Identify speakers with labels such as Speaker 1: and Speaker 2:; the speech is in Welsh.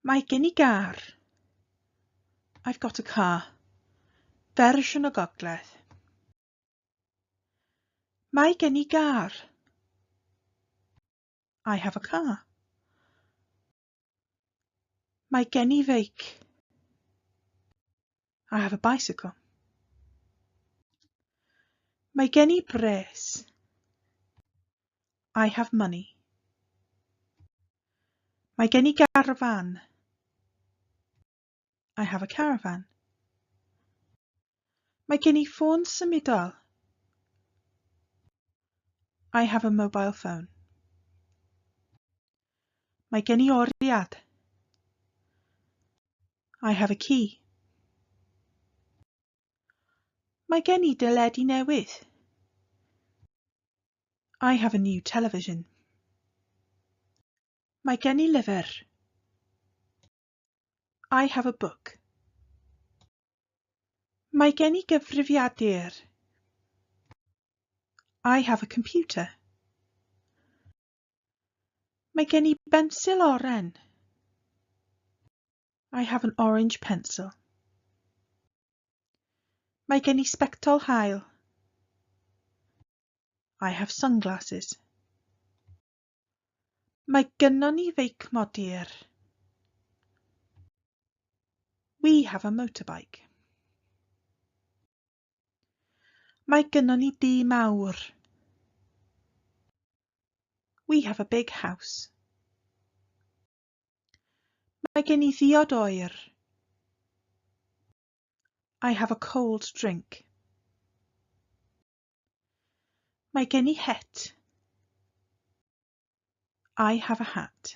Speaker 1: Mae gen i gar. I've got a car. Fersiwn y gogledd. Mae gen i gar. I have a car. Mae gen i feic. I have a bicycle. Mae gen i bres. I have money. Mae gen i garfan. I have a caravan. Mae gen i ffôn symudol. I have a mobile phone. Mae gen i oriad. I have a key. Mae gen i deledu newydd. I have a new television. Mae gen i lyfr. I have a book. Mae gen i gyfrifiadur. I have a computer. Mae gen i bensil oren. I have an orange pencil. Mae gen i sbectol hael. I have sunglasses. Mae gynnon ni feic modur. We have a motorbike. Mae gynnon ni dŷ mawr. We have a big house. Mae gen i ddiod oer. I have a cold drink. Mae gen i het. I have a hat.